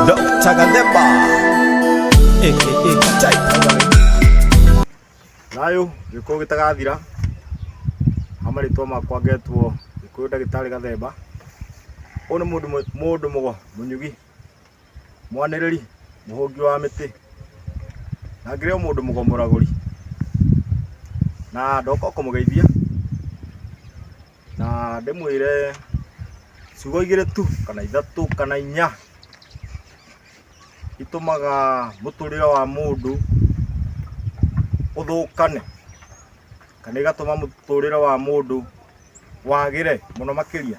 Dr. Gadeba. Eh, eh, eh, chai. Nayo gĩkũyũ gĩtagathira ha marĩtwa makwa ngetwo gĩkũyũ ndagĩtarĩ gathemba ũyũ nĩ mũndũ mũ- mũndũ mũgo mũnyugi mwanĩrĩri mũhũngi wa mĩtĩ na ngĩrĩ o mũndũ mũgomoragũri na ndoka o kũmũgeithia na ndĩmwĩre ciugo igĩrĩ tu kana ithatũ kana inya itũmaga mũtũrĩre wa mũndũ ũthũkane kana igatũma mũtũrĩre wa mũndũ wagĩre mũno makĩria.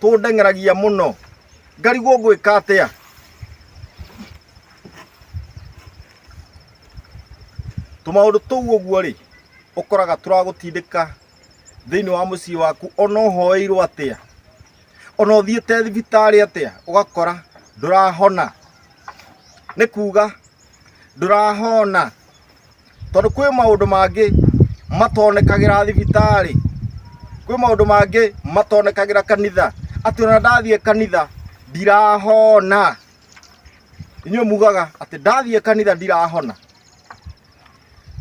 tũndeng'eragia mũno ngarigwo ngwĩka atĩa tũmaũndũ tũu ũguo rĩ ũkoraga tũragũtindĩka thĩinĩ wa mũciĩ waku ona ũhoeirwo atĩa ona ũthiĩte thibitarĩ atĩa ũgakora ndũrahona nĩ kuga ndũrahona tondũ kwĩ maũndũ mangĩ matonekagĩra thibitarĩ kwĩ maũndũ mangĩ matonekagĩra kanitha atĩ ona ndathiĩ kanitha ndirahona inyuĩ mugaga atĩ ndathiĩ kanitha ndirahona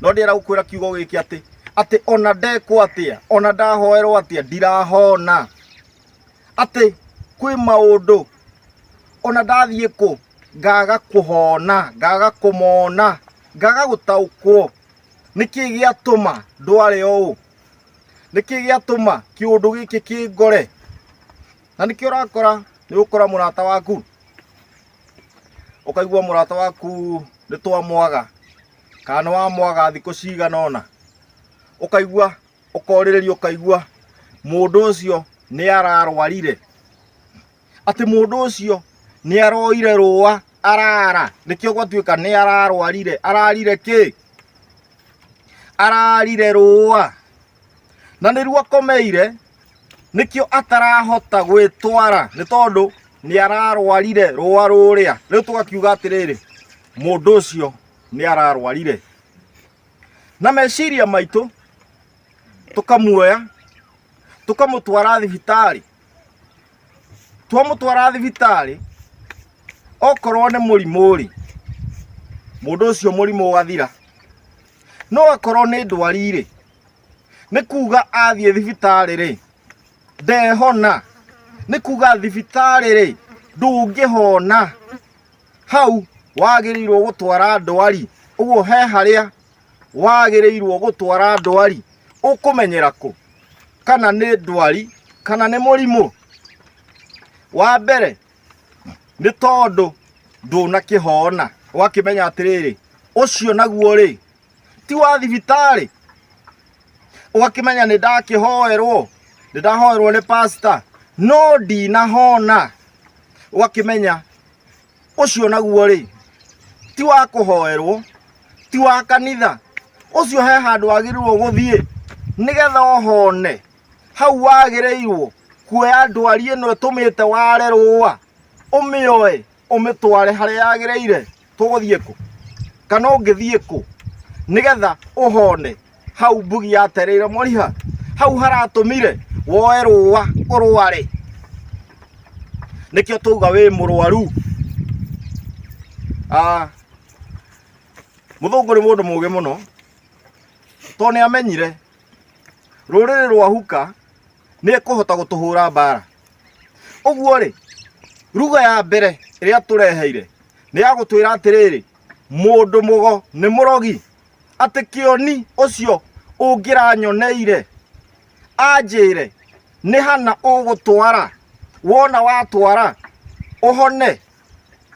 no ndĩrenda gũkwĩra kiugo gĩkĩ atĩ atĩ ona ndekwo atĩa ona ndahoerwo atĩa ndirahona atĩ kwĩ maũndũ ona ndathiĩ kũ ngaga kũhona ngaga kũmona ngaga gũtaũkwo nĩkĩ gĩatũma ndware ũũ nĩkĩ gĩatũma kĩũndũ gĩkĩ kĩngore na nĩkĩ ũrakora nĩ ũkora mũrata waku ũkaigua mũrata waku nĩ twamwaga kana wamwaga thikũ cigana ũna ũkaigua ũkorĩrĩria ũkaigua mũndũ ũcio nĩ ararwarire atĩ mũndũ ũcio nĩ aroire rũa arara nĩkĩo gwatuĩka nĩ ararwarire ararire kĩ ararire rũa na nĩruo akomeire nĩkĩo atarahota gwĩtwara nĩ tondũ nĩ ararwarire rũa rũrĩa rĩu tũgakiuga atĩrĩrĩ mũndũ ũcio nĩ ararwarire na meciria maitũ tũkamuoya tũkamũtwara thibitarĩ twamũtwara thibitarĩ okorwo nĩ mũrimũ rĩ mũndũ ũcio mũrimũ ũgathira no akorwo nĩ ndwari rĩ nĩ kuga athiĩ thibitarĩ rĩ ndehona nĩ kuga thibitarĩ rĩ ndũngĩhona hau wagĩrĩirwo gũtwara ndwari ũguo he harĩa wagĩrĩirwo gũtwara ndwari ũkũmenyera kũ kana nĩ ndwari kana nĩ mũrimũ wa mbere nĩ tondũ ndũnakĩhona ũgakĩmenya atĩrĩrĩ ũcio naguo rĩ ti wa thibitarĩ ũgakĩmenya nĩ ndakĩhoerwo nĩ ndahoerwo nĩ pasta no ndinahona ũgakĩmenya ũcio naguo rĩ ti wa kũhoerwo ti wa kanitha ũcio he handũ wagĩrĩirwo gũthiĩ nĩgetha ohone hau wagĩrĩirwo kuoya ndwari ĩno ĩtũmĩte ware rũa ũmĩoe ũmĩtware harĩa yagĩrĩire tũgũthiĩ kũ kana ũngĩthiĩ kũ nĩgetha ũhone hau mbugi yatereire moriha hau haratumire woe rũa ũrware nĩkĩo twauga wĩ mũrwaru Ah, mũthũngũ nĩ mũndũ mũgĩ mũno tondũ nĩ amenyire rũrĩrĩ rwa huka nĩ ekũhota gũtũhũra mbara ũguo rĩ ruga ya mbere ĩrĩa tũreheire nĩ ya gũtwĩra atĩrĩrĩ mũndũ mũgo nĩ mũrogi atĩ kĩoni ũcio ũngĩranyoneire anjĩre nĩ hana ũgũtwara wona watwara ũhone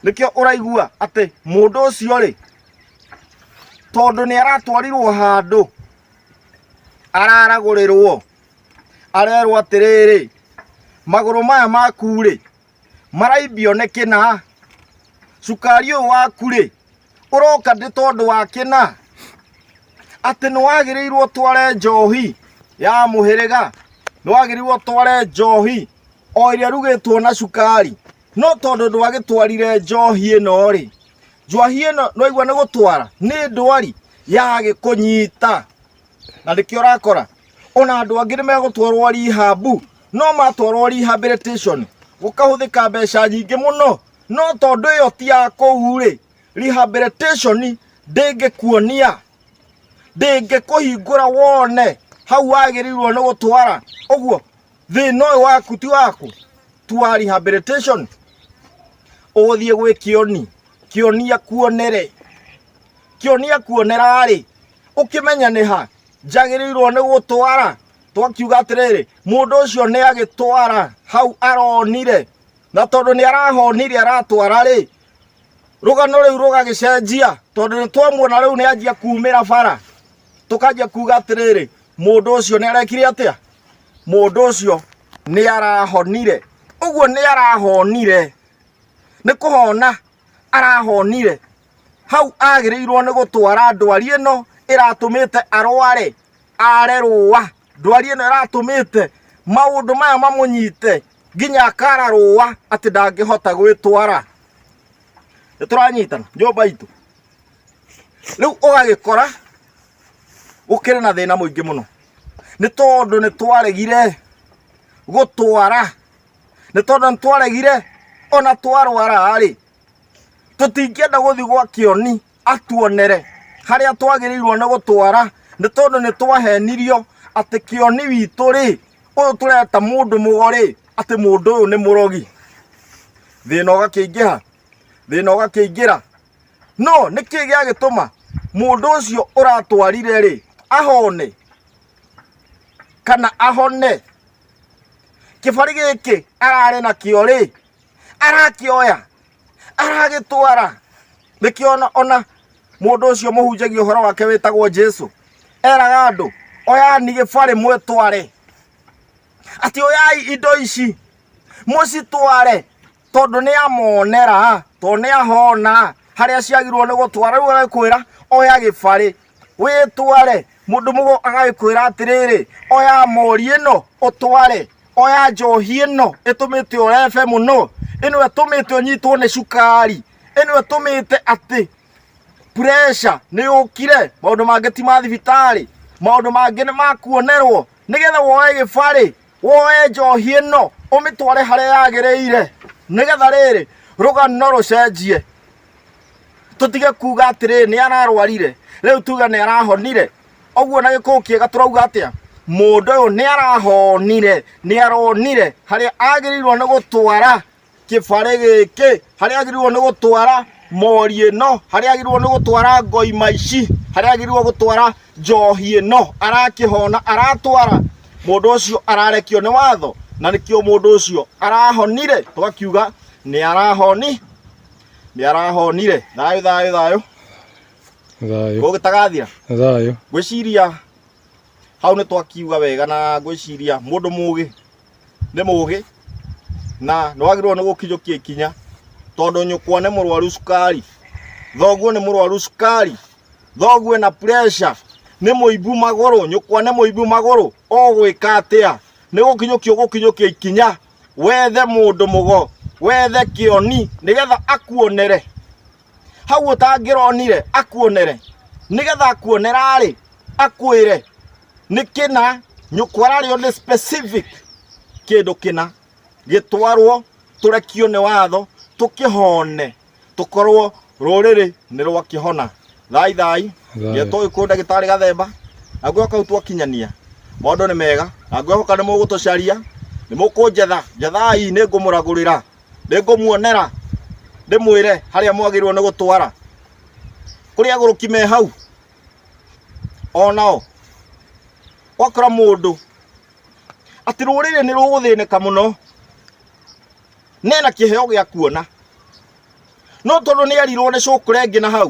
nĩkĩo ũraigua atĩ mũndũ ũcio rĩ tondũ nĩ aratwarirwo handũ araragũrĩrwo arerwo atĩrĩrĩ magũrũ maya maku rĩ maraimbio nĩ kĩna cukari ũyũ waku rĩ ũroka ndĩ tondũ wa kĩna atĩ nĩ wagĩrĩirwo tware njohi ya mũhĩrĩga nĩ wagĩrĩirwo tware njohi o ĩrĩa rugĩtwo na cukari no tondũ ndwagĩtwarire njohi ĩno rĩ njohi ĩno nĩwaigua nĩ gũtwara nĩ ndwari yagĩkũnyita na nĩkĩo ũrakora ona andũ angĩ nĩ megũtwarwo rihambu no matwarwo rehabilitation gũkahũthĩka mbeca nyingĩ mũno no tondũ ĩyo ti ya kũu rĩ rehabilitation ndĩngĩkuonia ndĩngĩkũhingũra wone hau wagĩrĩirwo nĩ gũtwara ũguo thĩna ũyũ waku ti waku ti wa rehabilitation ũgũthiĩ gwĩ kĩoni kĩonia kuonere kĩonia kuonera rĩ ũkĩmenya nĩ ha njagĩrĩirwo nĩ gũtwara twakiuga atĩrĩrĩ mũndũ ũcio nĩ agĩtwara hau aronire na tondũ nĩ arahonire aratwara rĩ rũgano rĩu rũgagĩcenjia tondũ nĩ twamuona rĩu nĩ anjia kumĩra bara tũkanjia kuga atĩrĩrĩ mũndũ ũcio nĩ arekire atĩa mũndũ ũcio nĩ arahonire ũguo nĩ arahonire nĩ kũhona arahonire hau agĩrĩirwo nĩ gũtwara ndwari ĩno ĩratũmĩte arware are rũa ndwari ĩno ĩratũmĩte maũndũ maya mamũnyite nginya akara rũa atĩ ndangĩhota gwĩtwara nĩ tũranyitana nyũmba itũ rĩu ũgagĩkora gũkĩrĩ na thĩna mũingĩ mũno nĩ tondũ nĩ twaregire gũtwara nĩ tondũ nĩ twaregire ona twarwara-rĩ tũtingĩenda gũthiĩ gwa kĩoni atuonere harĩa twagĩrĩirwo nĩ gũtwara nĩ tondũ nĩ twahenirio atĩ kĩoni witũ rĩ ũyũ tũreta mũndũ mũgo rĩ atĩ mũndũ ũyũ nĩ mũrogi thĩna ũgakĩingĩha thĩna ũgakĩingĩra no nĩ kĩĩ gĩagĩtũma mũndũ ũcio ũratwarire rĩ ahone kana ahone kĩbarĩ gĩkĩ ararĩ nakĩo rĩ arakĩoya aragĩtwara nĩkĩo ona ona mũndũ ũcio mũhunjagia ũhoro wake wĩtagwo jesu eraga andũ oyani gĩbarĩ mwĩtware atĩ oyai indo ici mũcitware tondũ nĩ amonera tondũ nĩ ahona harĩa ciagirwo nĩ gũtwara rĩu agakwĩra oya gĩbarĩ wĩtware mũndũ mũgo agagĩkwĩra atĩrĩrĩ oya mori ĩno ũtware oya njohi ĩno ĩtũmĩte ũrebe mũno ĩno ĩtũmĩte ũnyitwo nĩ cukari ĩno ĩtũmĩte atĩ pressure nĩ yũkire maũndũ mangĩ ti ma thibitarĩ maũndũ mangĩ nĩ makuonerwo nĩgetha woe gĩbarĩ woe njohi ĩno ũmĩtware harĩa yagĩrĩire nĩgetha rĩrĩ rũgano rũcenjie tũtige kuga atĩrĩ nĩ ararwarire rĩu tuge nĩ arahonire ũguo na gĩkũũ kĩega tũrauga atĩa mũndũ ũyũ nĩ arahonire nĩ aronire harĩa agĩrĩirwo nĩ gũtwara kĩbarĩ gĩkĩ harĩa agĩrĩirwo nĩ gũtwara mori ĩno harĩa agĩrĩirwo nĩ gũtwara ngoima ici harĩa agĩrĩirwo gũtwara njohi ĩno arakĩhona aratwara mũndũ ũcio ararekio nĩ watho na nĩkĩo mũndũ ũcio arahonire twakiuga nĩ arahoni nĩ arahonire thayũ thayũ thayũ thayũ gũgĩtagathira thayũ ngwĩciria hau nĩ twakiuga wega na ngwĩciria mũndũ mũgĩ nĩ mũgĩ na nĩ wagĩrĩirwo nĩ gũkinyũkia ikinya tondũ nyũkwa nĩ mũrwaru cukari thoguo nĩ mũrwaru cukari thoguo ena pressure nĩ mũimbu magũrũ nyũkwa nĩ mũimbu magũrũ ũgwĩka atĩa nĩ gũkinyũkia ũgũkinyũkia ikinya wethe mũndũ mũgo wethe kĩoni nĩgetha akuonere hau ũtangĩronire akuonere nĩgetha akuonera-rĩ akwĩre nĩ kĩna nyũkwa ararĩo nĩ specific kĩndũ kĩna gĩtwarwo tũrekio nĩ watho tũkĩhone tũkorwo rũrĩrĩ nĩ rwakĩhona thai thai Thayũ. ngetwo gĩkũyũ ndagĩtarĩ gathemba na ngwĩhoka kau twakinyania maũndũ nĩ mega na ngwĩhoka nĩ mũgũtũcaria nĩ mũkũnjetha njethai nĩ ngũmũragũrĩra nĩ ngũmuonera ndĩmwĩre harĩa mwagĩrĩirwo nĩ gũtwara kũrĩ agũrũki me hau o nao wakora mũndũ atĩ rũrĩrĩ nĩ rũgũthĩnĩka mũno nena kĩheo gĩa kuona no tondũ nĩ erirwo nĩ cũkũrengĩ na hau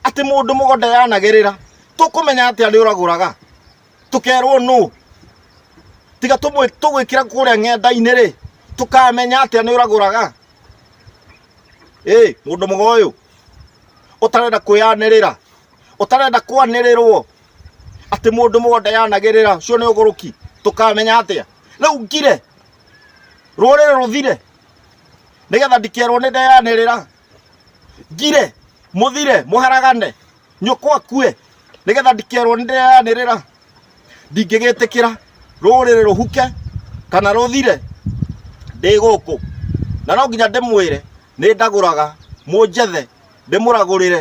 atĩ mũndũ mũgũnda yanagerera tũkũmenya atĩ arĩ ũragũraga tũkerwo nũ tiga tũmwĩ- tũgwĩkĩra kũrĩa ng'enda-inĩ rĩ tũkamenya atĩa nĩ ũragũraga ĩ mũndũ mũgo ũyũ ũtarenda kwĩyanĩrĩra ũtarenda kwanĩrĩrwo atĩ mũndũ mũgo ndeyanagĩrĩra ũcio nĩ ũgũrũki tũkamenya atĩa rĩu ngire rũrĩrĩ rũthire nĩgetha ndikerwo nĩ ndeyanĩrĩra ngire mũthire mũharagane nyũkwa kue nĩgetha ndikerwo nĩ ndĩreanĩrĩra ndingĩgĩtĩkĩra rũrĩrĩ rũhuke kana rũthire ndĩ gũkũ na no nginya ndĩmwĩre nĩ ndagũraga mũnjethe ndĩmũragũrĩre